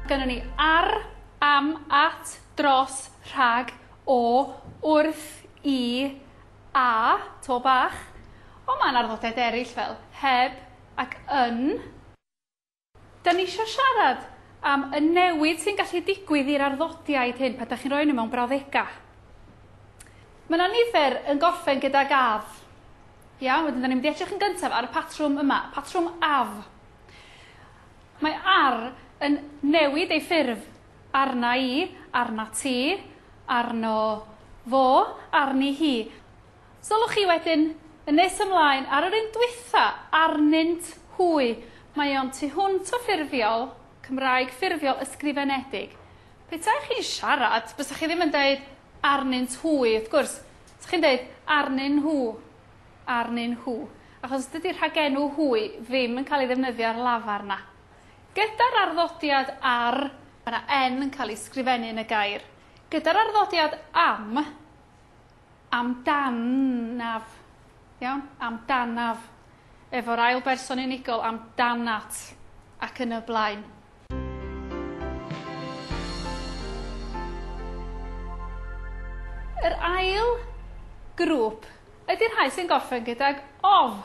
Gynnon ni ar, am, at, dros, rhag, o, wrth, i, a, to bach, ond mae'n arddodedd eraill fel heb ac yn. Da ni isio siarad am y newid sy'n gallu digwydd i'r arddodiaid hyn pan da chi'n rhoi nhw mewn brawddegau. Mae yna nifer yn gorffen gydag af. Iawn, wedyn da ni'n mynd i edrych yn gyntaf ar y patrwm yma, patrwm af. Mae ar yn newid ei ffurf arna i, arna ti, arno fo, arni hi. Sylwch chi wedyn, yn nes ymlaen, ar yr un dwytha, arnynt hwy. Mae o'n tu hwnt o ffurfiol, Cymraeg ffurfiol ysgrifenedig. Petai chi'n siarad, bysach chi ddim yn deud arnynt hwy, wrth gwrs. Bysach chi'n deud arnyn nhw, arnyn nhw, achos dydy rhagenw hwy ddim yn cael ei ddefnyddio ar lafar na. Gyda'r arddodiad ar, mae 'na 'n' yn cael ei sgrifennu yn y gair. Gyda'r arddodiad am, amdanaf, iawn? Amdanaf. Efo'r ail berson unigol, amdanat, ac yn y blaen. Yr ail grŵp ydy'r rhai sy'n gorffen gydag of.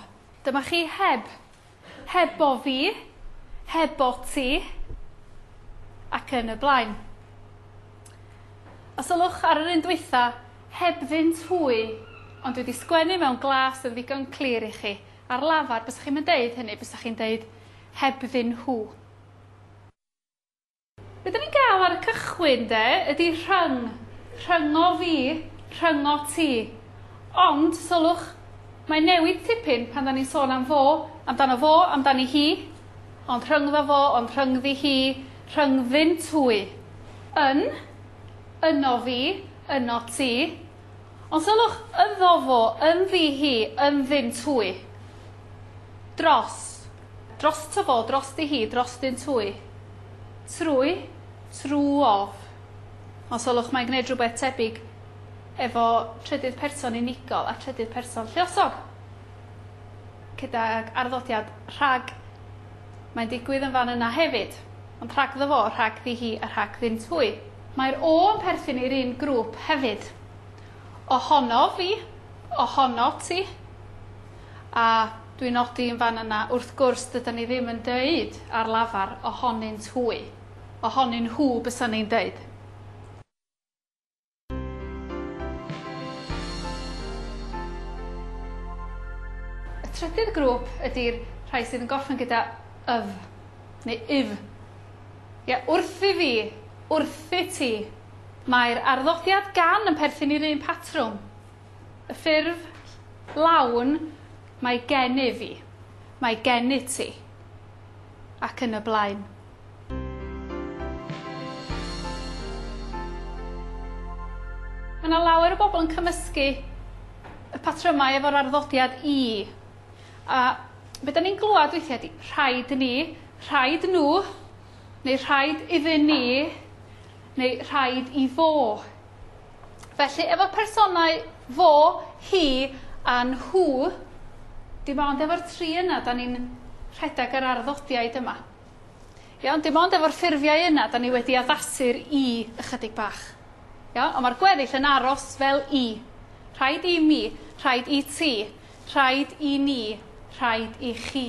Dyma chi heb Hebo fi, hebo ti, ac yn y blaen. Os ylwch ar yr un dwytha, heb fynd hwy, ond dwi wedi sgwennu mewn glas yn ddigon clir i chi. Ar lafar, bysach chi'n mynd deud hynny, bysach chi'n deud heb ddyn hw. Be dan ni'n gael ar y cychwyn de ydy rhyng, rhyngo fi, rhyngo ti. Ond, sylwch, mae'n newid tipyn pan dan ni'n sôn am fo, amdano fo, amdani hi, ond rhyngddo fo, ond rhyngddi hi, rhyngddynt hwy. Yn, yno fi, yno ti. Ond sylwch, yddo fo, ynddi hi, ynddynt hwy. Dros. Drosto fo, drosti hi, drostynt hwy. Trwy, true of. Os olwch mae'n gwneud rhywbeth tebyg efo trydydd person unigol a trydydd person lluosog. Gydag arddodiad rhag. Mae'n digwydd yn fan yna hefyd, ond rhagddo fo, rhagddi hi a rhagddynt hwy. Mae'r o yn perthyn i'r un grŵp hefyd. Ohonof fi, ohono ti. a dwi'n nodi yn fan yna, wrth gwrs, dydan ni ddim yn deud ar lafar ohonynt hwy. Ohonyn nhw bysan ni'n deud. Y trydydd grŵp ydi'r rhai sydd yn gorffen gyda yf neu yf. Ie, wrth i fi, wrth i ti. Mae'r arddodiad gan yn perthyn i'r un patrwm. Y ffurf lawn, mae gennyf i, mae gennyt ti, ac yn y blaen. Mae yna lawer o bobl yn cymysgu y patrymau efo'r arddodiad i. A be da ni'n glywed weithiau ydy rhaid ni, rhaid nhw, neu rhaid iddyn ni, neu rhaid i fo. Felly, efo personau fo, hi a nhw, dim ond efo'r tri yna, da ni'n rhedeg yr arddodiaid yma. Iawn, dim ond efo'r ffurfiau yna, da ni wedi addasu'r i ychydig bach. Iawn, ond mae'r gweddill yn aros fel i. Rhaid i mi, rhaid i ti, rhaid i ni, rhaid i chi.